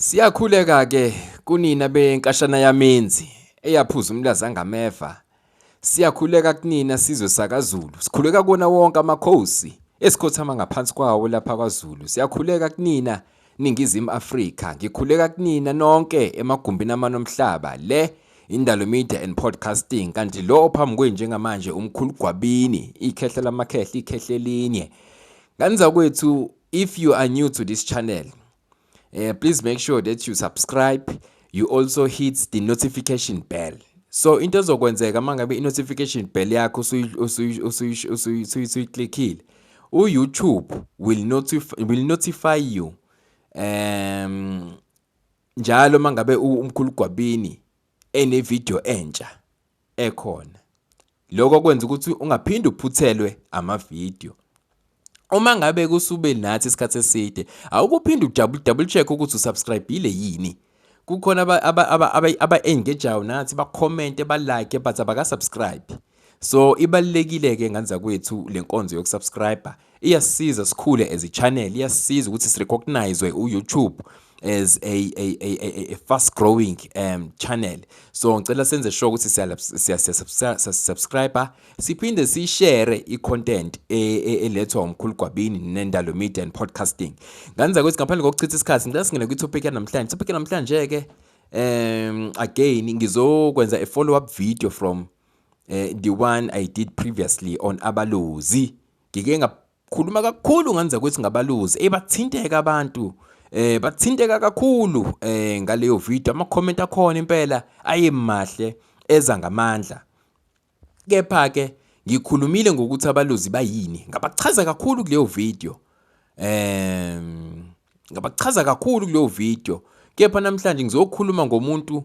Siyakhuleka-ke kunina benkashana yamenzi eyaphuza umlaza ngameva. Siyakhuleka kunina sizwe sakaZulu. Sikhuleka kuwona wonke amakhosi esikhothama ngaphansi kwawo lapha kwaZulu. Siyakhuleka kunina Ningizimu Afrika. Ngikhuleka kunina nonke emagumbini amanomhlaba le Indalo Media and Podcasting kanti lo ophambi kwenu njengamanje umkhulu Gwabini ikhehla lamakhehla ikhehla elinye. Ngani zakwethu if you are new to this channel uh, please make sure that you subscribe you also hit the notification bell so into ezokwenzeka uma ngabe i-notification bell yakho usuyiclickile u-youtube will notify, will notify you um njalo uma ngabe umkhulu gwabini enevidiyo entsha ekhona. Lokho kwenza ukuthi ungaphinde uphuthelwe amavidiyo. Uma ngabe kusube nathi isikhathi eside, awukuphinde udouble double check ukuthi usubscribile yini. Kukhona aba-engageayo nathi bakhomente balike but abakasubscribe. So ibalulekile ke ngane zakwethu le nkonzo yokusubscriber iyasiza sikhule as a channel iyasiza ukuthi sirecognize uYouTube as a, a, a, a fast growing um, channel so ngicela senze sure ukuthi siyasubscribe siphinde sishare i-content e, e, elethwa umkhulu gwabini nendalo media and podcasting ngane zakwethu ngaphandle kokuchitha isikhathi ngicela singene kwi-topic yanamhlanje topic yanamhlanje-ke um again ngizokwenza a follow up video from eh the one I did previously on abaluzi ngike ngakhuluma kakhulu ngenza ukuthi ngabaluzi ebathinteka abantu eh bathinteka kakhulu eh ngaleyo video ama comment akhona impela ayemahle eza ngamandla kepha ke ngikhulumile ngokuthi abaluzi bayini ngabachaza kakhulu kuleyo video eh ngabachaza kakhulu kuleyo video kepha namhlanje ngizokhuluma ngomuntu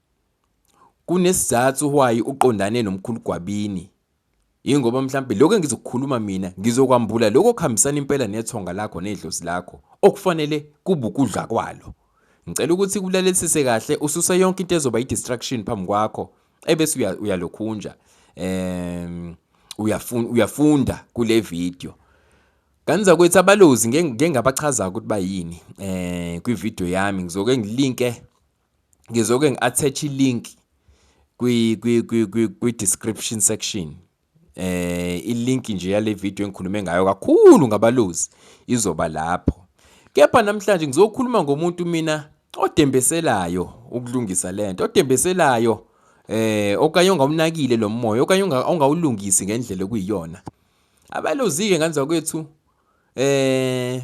kunesizathu why uqondane nomkhulu Gwabini yingoba mhlambe lokho engizokukhuluma mina ngizokwambula lokho kuhambisana impela nethonga lakho nedlozi lakho okufanele kubukudla kwalo ngicela ukuthi kulalelisise kahle ususe yonke into ezoba i-distraction phambi kwakho ebese uyalokhunja um uyafunda uyafunda kule video kanza kwethu abalozi ngeke ngabachaza ukuthi bayini eh kwi video yami ngizoke ngilinke ngizoke ngi-attach i-link kwi-description section eh i-link nje yale video engikhulume ngayo kakhulu ngabalozi izoba lapho kepha namhlanje ngizokhuluma ngomuntu mina odembeselayo ukulungisa lento odembeselayo eh okanye ongawunakile lo moya okanye ongawulungisi ngendlela okuyiyona abalozi-ke nganzakwethu eh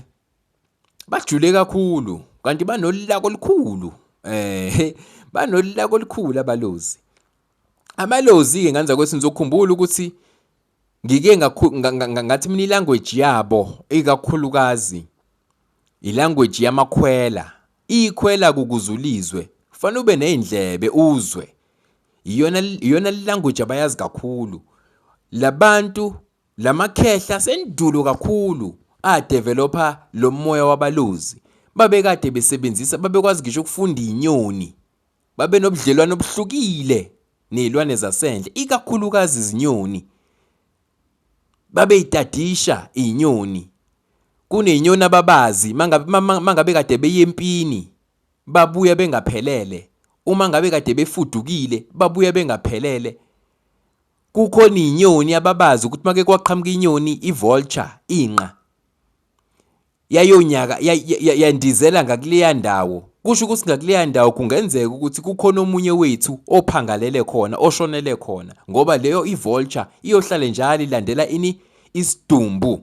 bajule kakhulu kanti banolulako olukhulu eh banolulako olukhulu abalozi amalozi-ke nganza kwethi nizokhumbula ukuthi ngike ngathi mina ilanguage yabo ikakhulukazi ilanguage yamakhwela ikhwela kukuzulizwe kufanele ube nezindlebe uzwe iyona iyona language abayazi kakhulu labantu Lamakhehla sendulo kakhulu a developer lomoya wabaluzi. Babekade besebenzisa babekwazi ngisho ukufunda inyoni. Babenobudlelwano obuhlukile nezilwane zasendle ikakhulukazi izinyoni. Babeyitadisha inyoni. Kunezinyoni ababazi mangabe mangabe kade beyempini babuya bengaphelele. Uma ngabe kade befudukile babuya bengaphelele. Kukhona izinyoni ababazi ukuthi make kwaqhamuka inyoni i-vulture inqa yayonyaka yandizela ngakuleya ndawo kusho ukuthi ngakuleya ndawo kungenzeka ukuthi kukhona omunye wethu ophangalele khona oshonele khona ngoba leyo i-vulture iyohlale njalo ilandela ini isidumbu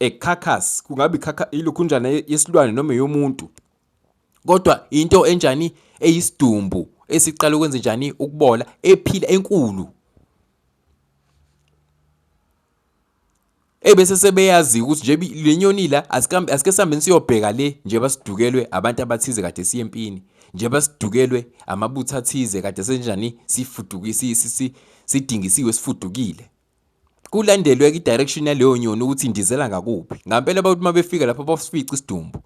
a carcass kungabe ikhakha ilukhunjana yesilwane noma yomuntu Kodwa into enjani eyisidumbu esiqala ukwenza njani ukubola ephila enkulu ebese sebeyazi ukuthi nje le nyoni la asikambe asike sambe siyobheka le nje basidukelwe abantu abathize kade siye empini nje basidukelwe amabutha athize kade senjani sifudukisi sidingisiwe sifudukile kulandelwe ke i-direction yaleyo nyoni ukuthi indizela ngakuphi ngampela abantu uma befika lapho basifica isidumbu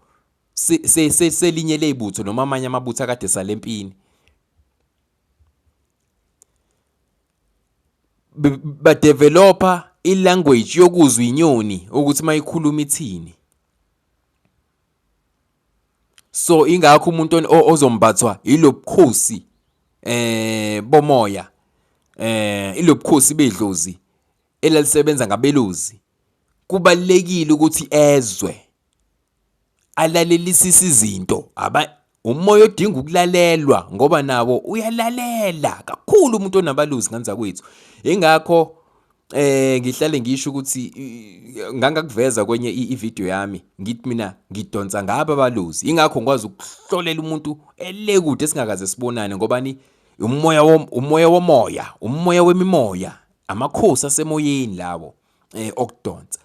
selinye ley'butho noma amanye amabutho akade salempini badevelopa ilanguage yokuzwa inyoni ukuthi mayikhuluma ithini so ingakho umuntu ozombathwa ilobukhosi eh bomoya eh ilobukhosi bedlozi elalisebenza ngabeluzi kubalekile ukuthi ezwe alalelisise izinto aba umoya odinga ukulalelwa ngoba nawo uyalalela kakhulu umuntu onabaluzi nganza kwethu ingakho eh ngihlale ngisho ukuthi ngangakuveza kwenye i-video yami ngithi mina ngidonsa ngaba baluzi ingakho ngikwazi ukuhlolela umuntu elekude singakaze sibonane ngoba ni umoya umoya womoya umoya wemimoya amakhosi asemoyeni lawo eh okudonsa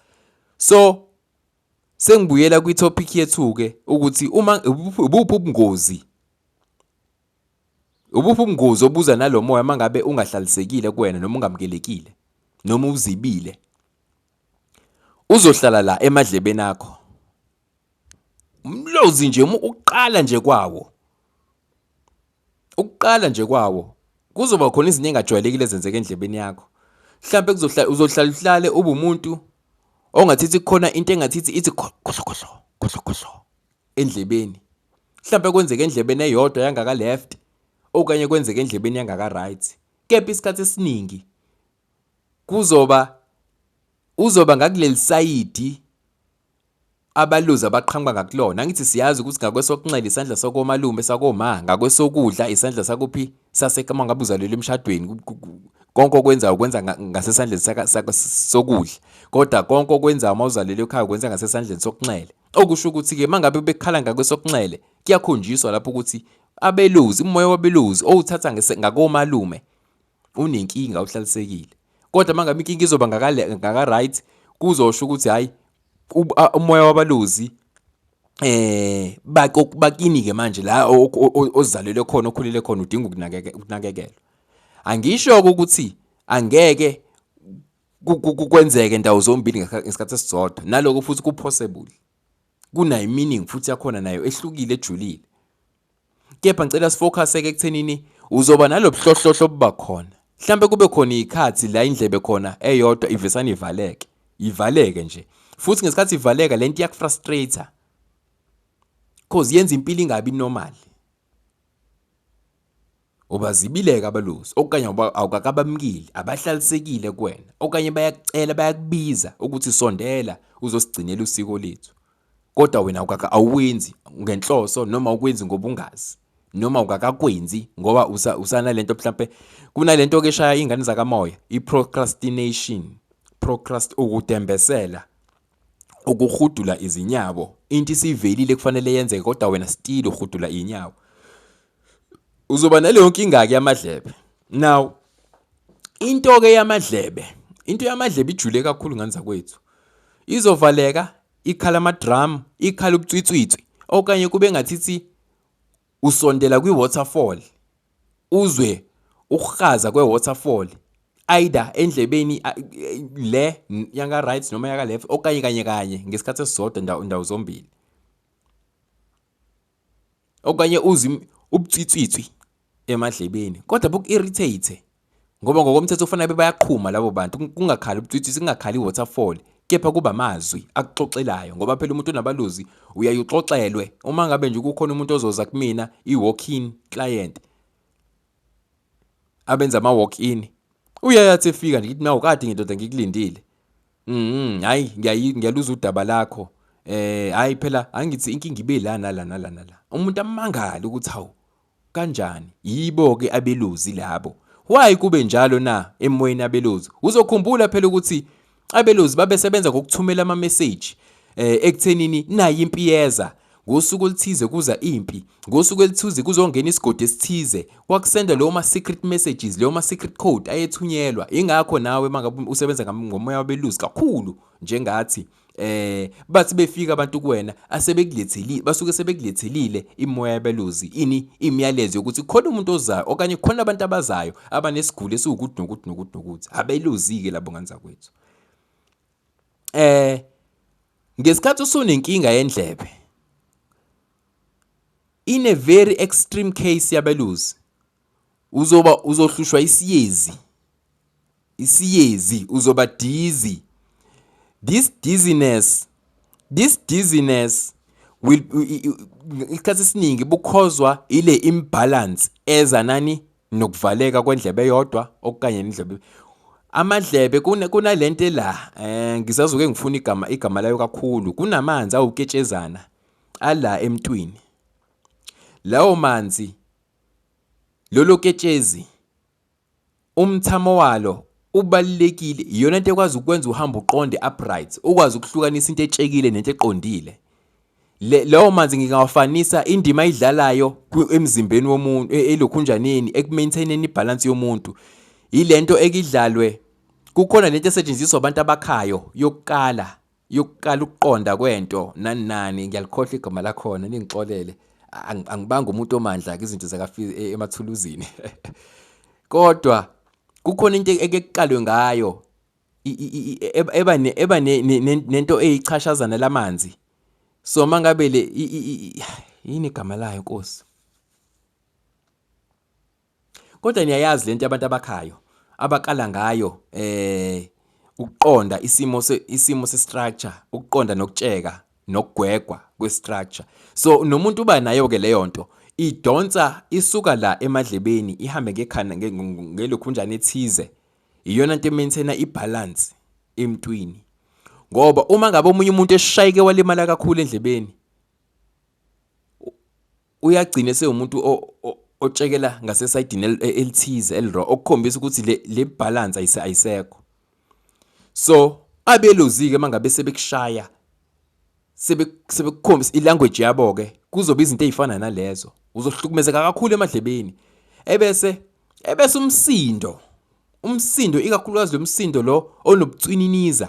so Sengibuyela kwi-topic yethu-ke ukuthi uma ubuphi ubungozi ubuphi ubungozi obuza nalo moya uma ngabe ungahlalisekile kuwena noma ungamukelekile noma uzibile uzohlala la emadlebeni akho umlozi nje uqala nje kwawo Ukuqala nje kwawo kuzoba khona izinto engajwayelekile ezenzeka endlebeni yakho. Mhlambe kuzohlala uzohlala uhlale ube umuntu ongathithi khona into engathithi ithi khohlo khohlo khohlo khohlo endlebeni. Mhlambe kwenzeka endlebeni eyodwa yangaka left okanye kwenzeka endlebeni yangaka right. Kepha isikhathi esiningi kuzoba uzoba ngakuleli sayidi abaluzi abaqhamuka ngakulona angithi siyazi ukuthi ngakwesokunxele isandla sakomalume sakoma ngakwesokudla isandla sakuphi sasekama ngabe uzalelwe emshadweni konke okwenzayo ukwenza ngasesandleni sokudla kodwa konke okwenzayo uma uzalelwe ekhaya ukwenza ngasesandleni sokunxele okusho ukuthi-ke uma ngabe bekhala ngakwesokunxele kuyakhonjiswa lapho ukuthi abeluzi umoya wabeluzi owuthatha ngakomalume unenkinga uhlalisekile kodwa mangabe inkinga izoba ngaka right kuzosho ukuthi hayi umoya wabalozi eh bakini ke manje la ozalelwe khona okhulele khona udinga ukunakekelwa angisho ukuthi angeke kwenzeke ndawo zombili ngesikhathi esisodwa naloko futhi kupossible kunayo meaning futhi yakhona nayo ehlukile ejulile Kepha ngicela sifocus-eke ekuthenini uzoba nalobuhlohlohlo obuba khona. Mhlampe kube khona ikhathi la indlebe khona eyodwa ivesana ivaleke. Ivaleke nje. Futhi ngesikhathi ivaleka lento iyakufrustrator. Cause yenza impilo ingabi normal. Ubazibileke abalusi okanye awukakabamukile, abahlalisekile kuwena okanye bayakucela bayakubiza ukuthi sondela uzosigcinela usiko lethu. Kodwa wena awuwenzi ngenhloso noma ukwenzi ngobungazi noma ukakakwenzi ngoba usanalento mhlampe kunalento ke shaya ingane zakamoya i-procrastination procrast ukudembesela ukuhudula izinyawo into isivelile kufanele yenzeke kodwa wena still uhudula inyawo uzoba naleyo nkinga ke yamadlebe now into ke yamadlebe into yamadlebe ijule kakhulu ngane zakwethu izovaleka ikhala amadrum ikhala ubutswitswitswi okanye kube ngathi ithi Usondela kwi-waterfall, uzwe ukuhaza kwe-waterfall either endlebeni le yaka right noma yaka left okanye kanye kanye ngesikhathi esisodwa ndawo ndawo zombili okanye uzi ubutsitsitswi emadlebeni kodwa buku-irritate Ngoba ngokomthetho kufanele babe bayaqhuma labo bantu, kung- kungakhali ubutwitwisi, kungakhali i-waterfall, kepha kuba amazwi akuxoxelayo ngoba phela umuntu onabaluzi uyaye uxoxelwe. Uma ngabe nje kukhona umuntu ozoza kumina i-walk-in client, abenza ama-walk-in, uyaye athi efika nje ngithi nawu kade ngindoda ngikulindile. Mhm, hayi ngiyayi- ngiyaluza udaba lakho. Eh hayi phela angithi inkinga ibe la nala nala nala. Umuntu amangale ukuthi hawu Kanjani? Yibo ke abeluzi labo. Why kube njalo na emoyeni abelozi? Uzokhumbula phela ukuthi abelozi babesebenza ngokuthumela ama message eh ekuthenini nayi impi yeza ngosuku oluthize kuza impi ngosuku elithize kuzongena isigodi esithize wakusenda leyo ma secret messages leyo ma secret code ayethunyelwa ingakho nawe mangabe usebenza ngomoya wabeluzi kakhulu njengathi eh bathi befika abantu kuwena asebekuletheli basuke sebekulethelile imoya yabeluzi ini imiyalezo yokuthi khona umuntu ozayo okanye khona abantu abazayo abanesiguli esiwukuthi nokuthi nokuthi nokuthi abeluzike labo ngane zakwethu eh ngesikhathi usunenkinga yendlebe in a very extreme case yabeluzi uzoba uzohlushwa isiyezi isiyezi uzoba dizzy this dizziness this dizziness will isikhathi esiningi bukhozwa ile imbalance eza nani nokuvaleka kwendlebe yodwa okanye indlebe amadlebe kunalento la eh ngisazoke ngifuna igama igama layo kakhulu kunamanzi awuketshezana ala emntwini lawo manzi Lolo ketshezi umthamo walo ubalulekile iyona nto ekwazi ukwenza uhambe uqonde upright ukwazi ukuhlukanisa into etshekile nento eqondile le lawo manzi ngingawafanisa indima ayidlalayo emzimbeni womuntu e, elokhunjaneni ekumaintaineni ibalance yomuntu yilento ekidlalwe kukhona lento esetshenziswa abantu abakhayo yokuqala yokuqala ukuqonda kwento nani nani ngiyalikhohla igama lakhona ningixolele angibanga umuntu omandla ke izinto zakafizi e, emathuluzini kodwa kukhona into ekekuqalwe ngayo eba eba nento eyichashazana lamanzi so mangabe le yini igama layo nkosi Kodwa niyayazi lento abantu abakhayo abaqala ngayo eh ukuqonda isimo se isimo se structure ukuqonda nokutsheka nokugwegwa kwe structure so nomuntu uba nayo ke leyo nto idonsa isuka la emadlebeni ihambe ngekhanda ngelokhunjana ethize iyona nto emaintaina ibalance emntwini ngoba uma ngabe omunye umuntu eshayike walimala kakhulu endlebeni uyagcina esewumuntu otshekela ngasesayidini e, elithize eliro okukhombisa ukuthi le le balance ayisekho so abelozike mangabe sebekushaya sebekukhombisa ilanguage yabo ke kuzoba izinto ezifana nalezo uzohlukumezeka kakhulu emadlebeni ebese ebese umsindo umsindo ikakhulukazi lo msindo lo onobucwininiza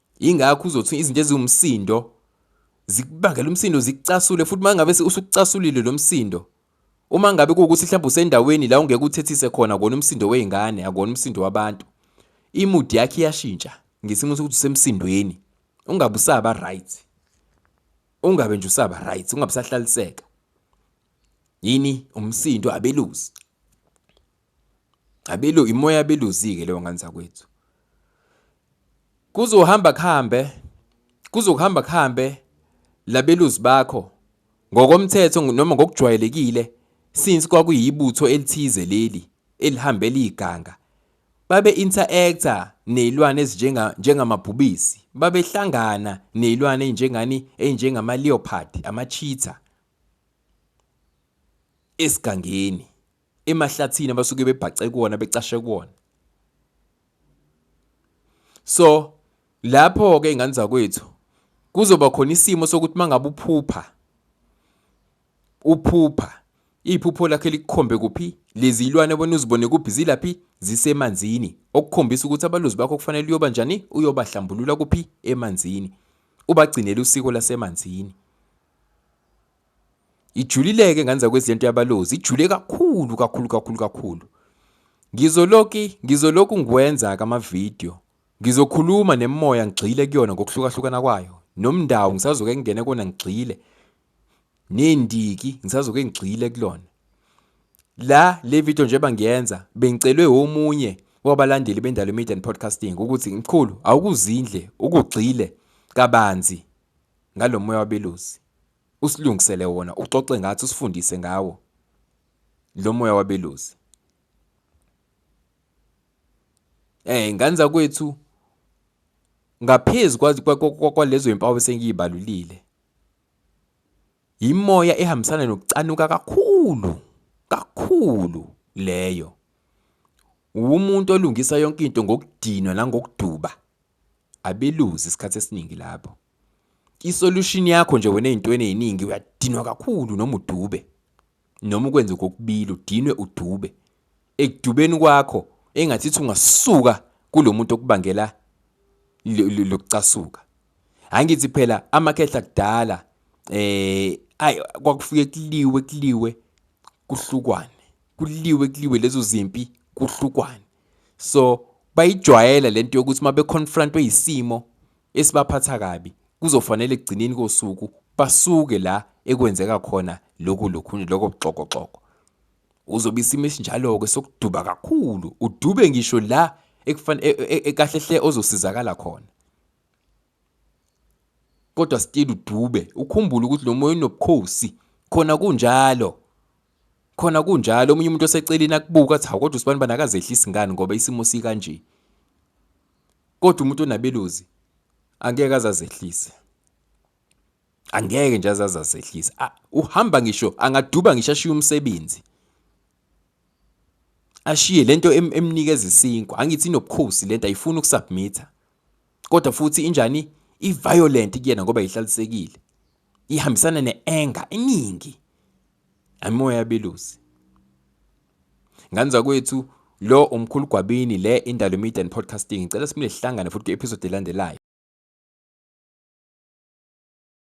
Ingakho uzothi izinto eziwumsindo zikubangela umsindo zikucasule futhi mangabe usukucasulile lo msindo uma ngabe kuwukuthi mhlawumbe usendaweni la ungeke uthethise khona kona umsindo wey'ngane akona umsindo wabantu imudi yakhe iyashintsha ngesimo sokuthi usemsindweni ungabe usaba right ungabe nje usaba right ungabe usahlaliseka yini umsindo abeluzi Abelu imoya abeluzike leyo ngane zakwethu. Kuzohamba kuhambe kuzokuhamba kuhambe labeluzi bakho ngokomthetho noma ngokujwayelekile since kwakuyibutho elithize leli elihambela iganga babe interactor nezilwane ezinjenga njengamabhubisi babehlangana nezilwane ezinjengani ezinjengama leopard ama cheetah esigangeni emahlathini abasuke bebhace kuwona becashe kuwona so lapho ke ingane zakwethu kuzoba khona isimo sokuthi mangabe uphupha uphupha iphupho lakhe likukhombe kuphi lezi ilwane bona uzibone kuphi zilaphi zisemanzini okukhombisa ukuthi abalozi bakho kufanele uyoba njani uyobahlambulula kuphi emanzini ubagcinele usiko lasemanzini Ijulileke nganza kwezento yabalozi, ijule kakhulu kakhulu kakhulu kakhulu. Ngizoloki ngizoloku ngikwenza-ke amavidiyo. Ngizokhuluma nemimoya ngigxile kuyona ngokuhlukahlukana kwayo. Nomndawo ngisazoke ngingene kona ngigxile. Nendiki ngisazoke ngigxile kulona. La le video njengoba ngiyenza bengicelwe omunye wabalandeli bendalo media and podcasting ukuthi mkhulu awukuzindle ukugxile kabanzi ngalomoya wabelusi. Usilungisele wona, uxoxe ngathi, usifundise ngawo lo moya wabelusi. Eh ngane zakwethu ngaphezu kwalezo impawu esengiyibalulile yimoya ehambisana nokucanuka kakhulu kakhulu leyo wumuntu olungisa yonke into ngokudinwa nangokuduba abeluzi isikhathi esiningi lapho isolution yakho nje wena ezintweni eziningi uyadinwa kakhulu noma udube noma ukwenze kokubili udinwe udube ekudubeni kwakho engathithi ungasuka kulomuntu okubangela lokucasuka angithi phela amakhehla kudala eh ay kwakufike kuliwe kuliwe kuhlukwane kuliwe kuliwe lezo zimpi kuhlukwane so bayijwayela lento yokuthi uma beconfrontwe isimo esibaphatha kabi kuzofanele ekugcineni kosuku basuke la ekwenzeka khona lokhu lokhunye lokho buxokoxoko uzobe isimo esinjalo-ke sokuduba kakhulu udube ngisho la e, e, e, kahle hle ozosizakala khona kodwa still udube ukhumbule ukuthi lo moya unobukhosi khona kunjalo Khona kunjalo omunye umuntu oseceleni akubuka athi kodwa usibani bani akazehlisi ngani ngoba isimo sikanje. Kodwa umuntu onabeluzi angeke azazehlise. Angeke nje azazazehlise. Uhamba ngisho angaduba ngisho ashiye umsebenzi. Ashiye lento emnikeza isinkwa. Angithi inobukhosi lento ayifuni ukusubmita. kodwa futhi injani i-violent kuyena ngoba ihlalisekile ihambisana ne-anger eningi amimoya yabelusi ngane zakwethu lo umkhulu gwabini le indalo media and podcasting ngicela simile sihlangane futhi kwi-episode elandelayo